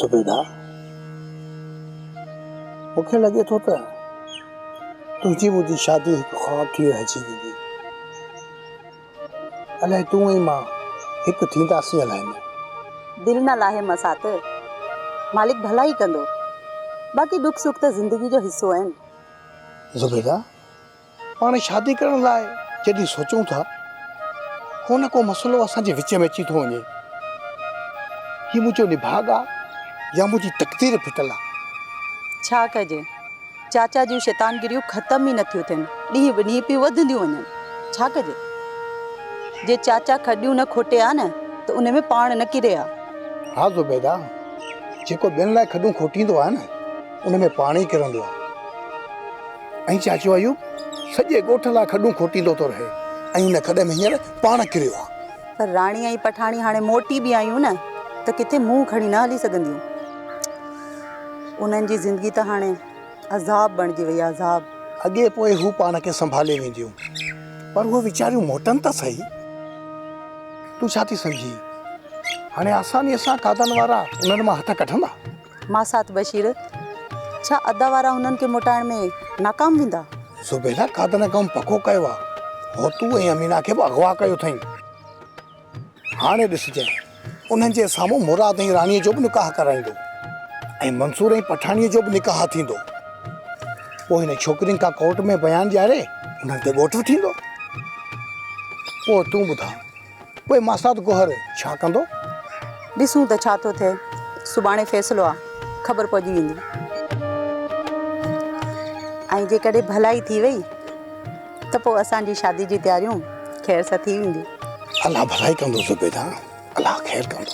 زبيده! مون کي لڳي ٿو ته تنهنجي منهنجي شادي هڪ خواب ٿي رهجي ويندي. الائي تون ۽ مان هڪ ٿينداسين الائي نه. دل نه لاهه مسات، مالڪ ڀلائي ڪندو. باقي ڏک سک ته زندگي جو حصو آهن. زبيده! پاڻ شادي ڪرڻ لاء جڏهن سوچون ٿا ڪو نه ڪو مسئلو اسان جي وچ ۾ اچي ٿو وڃي هي منهنجو نڀاڳ آ يا منهنجي تقدير ڦٽل آ. ڇا ڪجي چاچا جون شيطانگريون ختم ئي نٿيون ٿين ڏينهن به ڏينهن پيون وڌنديون وڃن ڇا ڪجي جي چاچا کڏيون نه کوٽي آ نه ته ان ۾ پاڻ نه ڪري آ. ها زبيده جيڪو ٻين لاء کڏون کوٽيندو آ نه ان ۾ پاڻ ئي ڪرندو آ. ۽ چاچو ايوب سڄي ڳوٺ لاء کڏون کوٽيندو ٿو رهي ۽ ان کڏ ۾ هينئر پاڻ ڪريو آهي. پر راڻي ۽ پٺاڻي هاڻي موٽي به آيون نه ته ڪٿي منهن کڻي نه هلي سگهنديون. انهن جي زندگي ته هاڻي عذاب بڻجي وئي آهي، عذاب. اڳي پوء هو پاڻ کي سنڀالي وينديون، پر اهي ويچاريون موٽن ته سهي. تون ڇا ٿي سمجهين؟ هاڻي آسانيء سان کاڌن وارا انهن مان هٿ ڪڍندا. ماسات بشير، ڇا ادا وارا هنن کي موٽائڻ ۾ ناڪام ويندا؟ زبيده، ڪا ته نه ڪم پڪو ڪيو آ، هوتو ۽ امينه کي به اغوا ڪيو اٿئين. هاڻي ڏسجين، انهن جي سامهون مراد ۽ راڻيء جو به نڪاح ڪرائيندو ۽ منصور ۽ پٺاڻيء جو به نڪاح ٿيندو. پوء هن ڇوڪرين کان ڪورٽ ۾ بيان ڏياري انهن کي ڳوٺ به ٿيندو. پوء تون ٻڌاء. پوء ماسات گوهر ڇا ڪندو؟ ڏسون ته ڇا ٿو ٿئي. سڀاڻي فيصلو آ. خبر پئجي ويندي. ۽ جيڪڏهن ڀلائي ٿي وئي ته پوء اسان جي شادي جي تياريون خير سان ٿي وينديون. الله ڀلائي ڪندو زبيده. الله خير ڪندو.